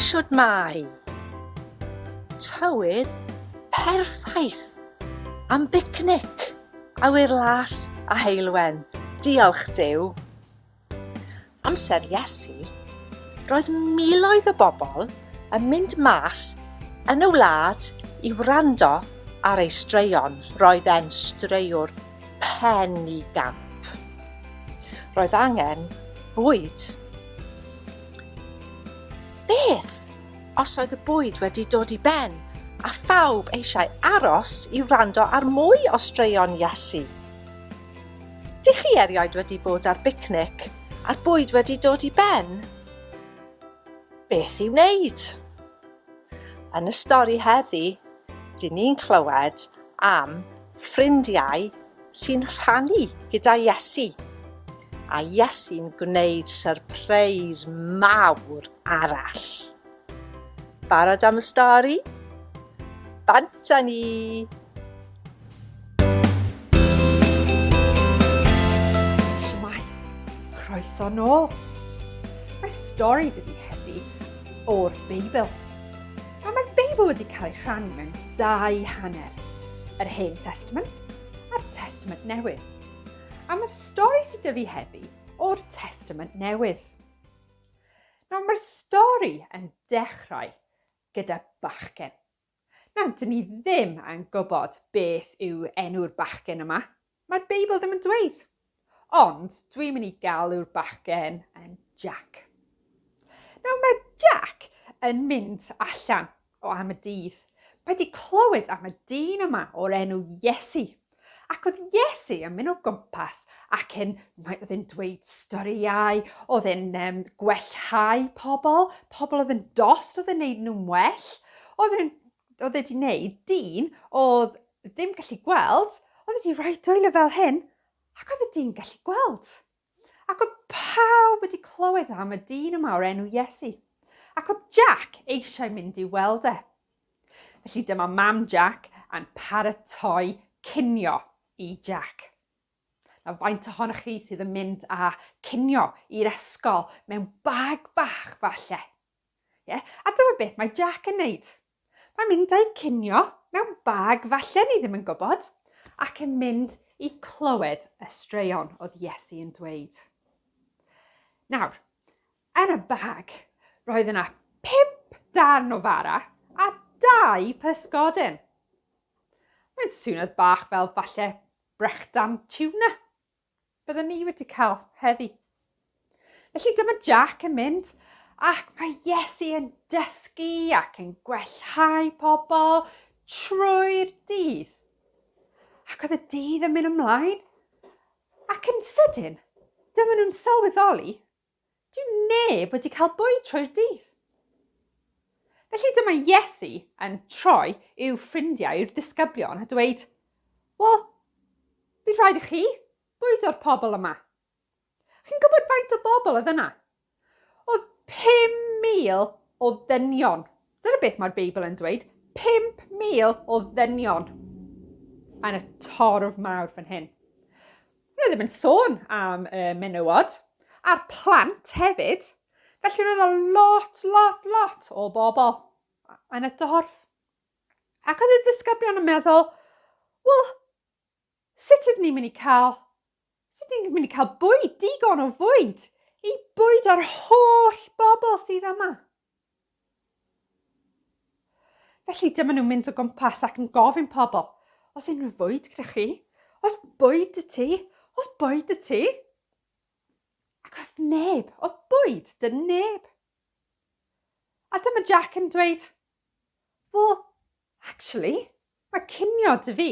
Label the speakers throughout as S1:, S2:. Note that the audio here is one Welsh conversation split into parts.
S1: Shwmae! Tywydd perffaith am bicnic, awyr las a heulwen. Diolch Duw! Amser Iesu, roedd miloedd o bobl yn mynd mas yn y wlad i wrando ar ei straeon. Roedd e'n straewr pen i gamp. Roedd angen bwyd. Beth os oedd y bwyd wedi dod i ben a phawb eisiau aros i wrando ar mwy o straeon Iesu? Dych chi erioed wedi bod ar bicnic a'r bwyd wedi dod i ben? Beth i wneud? Yn y stori heddi, dyn ni'n clywed am ffrindiau sy'n rhannu gyda Iesu. A Iesu'n gwneud syrpreis mawr arall. Barod am y stori? Bant â ni! Shwmai, croeso nôl. Mae stori dydi heddi o'r Beibl. A mae'r Beibl wedi cael ei rhannu mewn dau hanner, yr Hen Testament a'r Testament Newydd. A mae'r stori sydd dyfu heddi o'r Testament Newydd. Nawr mae'r stori yn dechrau gyda bachgen. Nawr, dyn ni ddim yn gwybod beth yw enw'r bachgen yma, mae'r Beibl ddim yn dweud. Ond dwi'n mynd i galw'r bachgen yn Jack. Nawr mae Jack yn mynd allan O am y dydd. Mae di clywed am y dyn yma o'r enw Iesu. Ac oedd Iesu yn mynd o gwmpas ac yn, mae oedd yn dweud storïau, oedd yn um, gwellhau pobl, pobl oedd yn dost, oedd yn neud nhw'n well. Oedd yn, oedd wedi neud dyn oedd ddim gallu gweld, oedd wedi rhoi dwylo fel hyn, ac oedd y dyn gallu gweld. Ac oedd pawb wedi clywed am y dyn yma o'r enw Iesu, ac oedd Jack eisiau mynd i'w weld e. Felly dyma mam Jack yn paratoi cinio i Jack. Nawr, faint ohonoch chi sydd yn mynd â cinio i'r ysgol mewn bag bach falle? Ie, a dyma beth mae Jack yn neud. Mae'n mynd â'i cinio mewn bag falle ni ddim yn gwybod, ac yn mynd i clywed y straeon oedd Iesu yn dweud. Nawr, yn y bag, roedd yna pump darn o fara a dau pysgodyn. Mae'n swniodd bach fel falle brechdan tiwna. Bydden ni wedi cael heddi. Felly dyma Jack yn mynd ac mae Iesu yn dysgu ac yn gwellhau pobl trwy'r dydd. Ac oedd y dydd yn mynd ymlaen ac yn sydyn, dyma nhw'n sylweddoli Dyw neb wedi cael bwyd trwy'r dydd. Felly dyma Iesu yn troi i'w ffrindiau, i'r disgyblion, a dweud, Wel, bydd rhaid i chi bwydo'r pobl yma. Chi'n gwybod faint o bobl oedd yna? Oedd 5,000 o ddynion Dyna beth mae'r Beibl yn dweud, 5,000 o ddynion yn y torf mawr fan hyn. Roedd ddim yn sôn am y menywod a'r plant hefyd, felly roedd o lot, lot, lot o bobl yn y dorf. Ac oedd y ddisgyblion yn meddwl, wel, sut ydyn ni'n mynd i cael, sut ydyn ni'n mynd i cael bwyd, digon o fwyd, i bwyd o'r holl bobl sydd yma? Felly dyma nhw'n mynd o gwmpas ac yn gofyn pobl, Os unrhyw fwyd gyda chi? Os bwyd y ti? Os bwyd y ti? Ac oedd neb, oedd bwyd, dy neb. A dyma Jack yn dweud, Wel, actually, mae cinio dy fi,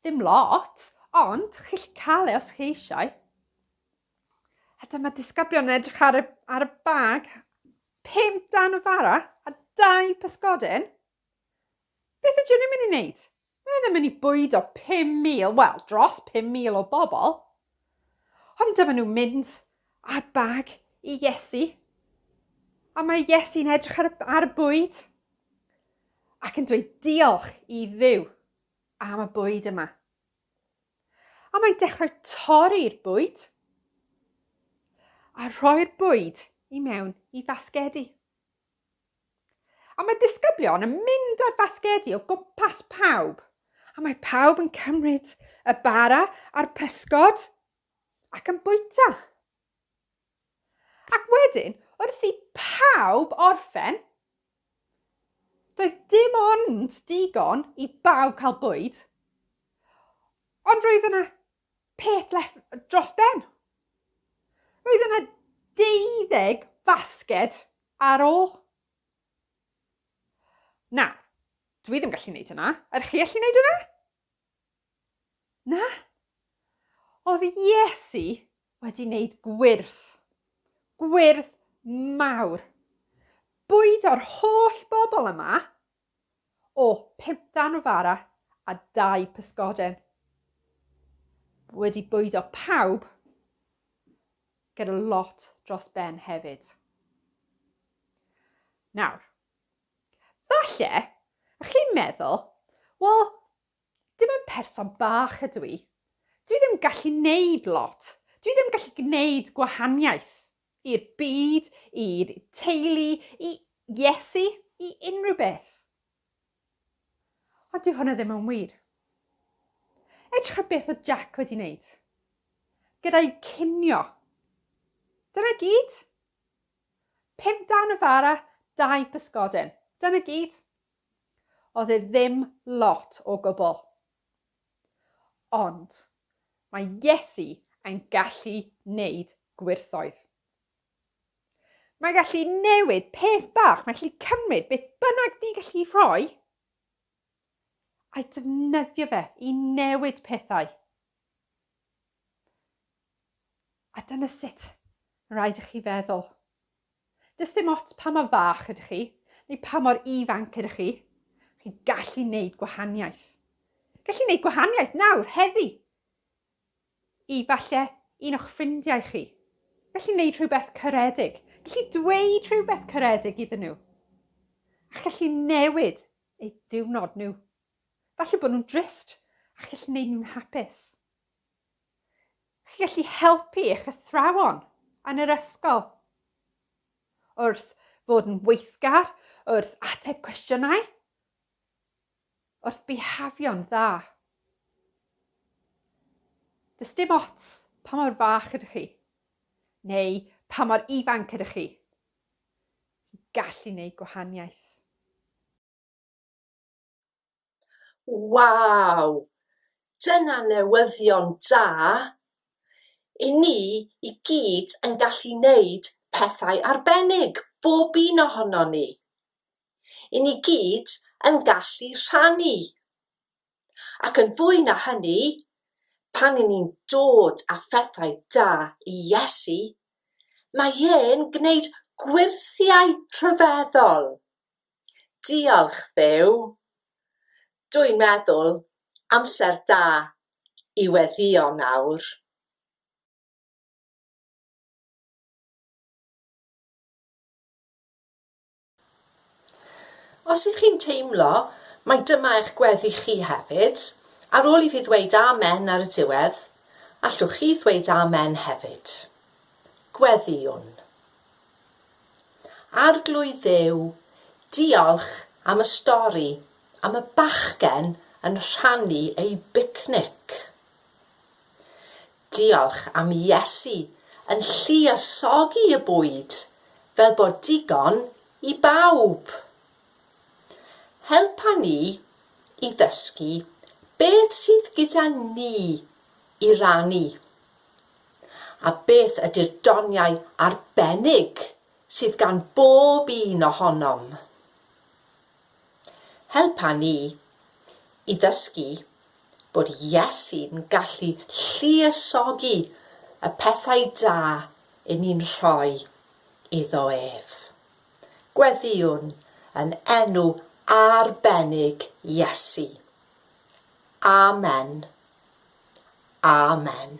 S1: ddim lot, ond chi'ch cael e os chi eisiau. A dyma disgyblion yn edrych ar y, ar y bag. Pum dan o fara a dau pysgodyn. Beth ydyn nhw'n mynd i wneud? Mae ddim yn mynd i bwyd o 5,000, wel, dros 5,000 o bobl. Ond dyma nhw'n mynd â bag i Iesu. A mae Iesu'n edrych ar, ar y bwyd ac yn dweud diolch i ddiw am y bwyd yma. A mae'n dechrau torri'r bwyd a rhoi'r bwyd i mewn i fasgedi. A mae disgyblion yn mynd ar fasgedi o gwmpas pawb, a mae pawb yn cymryd y bara a'r pysgod ac yn bwyta. Ac wedyn, wrth i pawb orffen, Doedd dim ond digon i bawb cael bwyd, ond roedd yna peth leth dros ben. Roedd yna deuddeg basged ar ôl. Na, dwi ddim gallu wneud hynna. Ydych chi allu wneud hynna? Na? Oedd Iesu wedi wneud gwyrth, gwyrth mawr, bwyd o'r holl bobl yma o pimp dan o fara a dau pysgoden. Wedi bwyd o pawb gyda lot dros ben hefyd. Nawr, Falle, ych chi'n meddwl, wel, dim ond person bach ydw i. Dwi ddim gallu neud lot. Dwi ddim gallu gwneud gwahaniaeth i'r byd, i'r teulu, i Iesu, i unrhyw beth. Ond dyw hwnna ddim yn wir. Edrych ar beth oedd Jack wedi wneud. Gyda'i cinio. Dyna gyd. Pum darn o fara, dau bysgodyn. Dyna gyd. Oedd e ddim lot o gwbl. Ond mae Iesu yn gallu neud gwyrthoedd. Mae gallu newid peth bach, mae gallu cymryd beth bynnag ni'n gallu rhoi A'i defnyddio fe i newid pethau. A dyna sut rhaid i chi feddwl. Does dim ots pa mor fach ydych chi, neu pa mor ifanc ydych chi, chi'n gallu wneud gwahaniaeth. Gallu wneud gwahaniaeth nawr, heddi! Efallai un o'ch ffrindiau chi. Gallu wneud rhywbeth caredig. Gallu dweud rhywbeth caredig iddyn nhw. A challu newid eu diwrnod nhw. Falle bod nhw'n drist a gallu gwneud nhw'n hapus. Chi gallu helpu eich athrawon yn yr ysgol. Wrth fod yn weithgar, wrth ateb cwestiynau. wrth bihafio'n dda. Does dim ots pa mor fach ydych chi, neu pa mor ifanc ydych chi, i gallu gwneud gwahaniaeth. Waw! Dyna newyddion da! I ni i gyd yn gallu wneud pethau arbennig, bob un ohonon ni. 'yn ni gyd yn gallu rhannu. Ac yn fwy na hynny, pan 'yn ni'n dod â phethau da i Iesu, mae e'n gwneud gwyrthiau rhyfeddol. Diolch, Dduw! Dw i'n meddwl, amser da i weddïo nawr. Os ych chi'n teimlo mai dyma eich gweddi chi hefyd, ar ôl i fi ddweud 'Amen' ar y diwedd, allwch chi ddweud 'Amen' hefyd. Gweddïwn. Arglwydd Dduw, diolch am y stori am y bachgen yn rhannu ei bicnic. Diolch am Iesu yn lluosogi y bwyd fel bod digon i bawb. Helpa ni i ddysgu beth sydd gyda ni i rannu. A beth ydy'r doniau arbennig sydd gan bob un ohonom? Helpa ni i ddysgu bod Iesu'n gallu lluosogi y pethau da i ni'n rhoi iddo ef. Gweddïwn yn enw arbennig Iesu. Amen. Amen.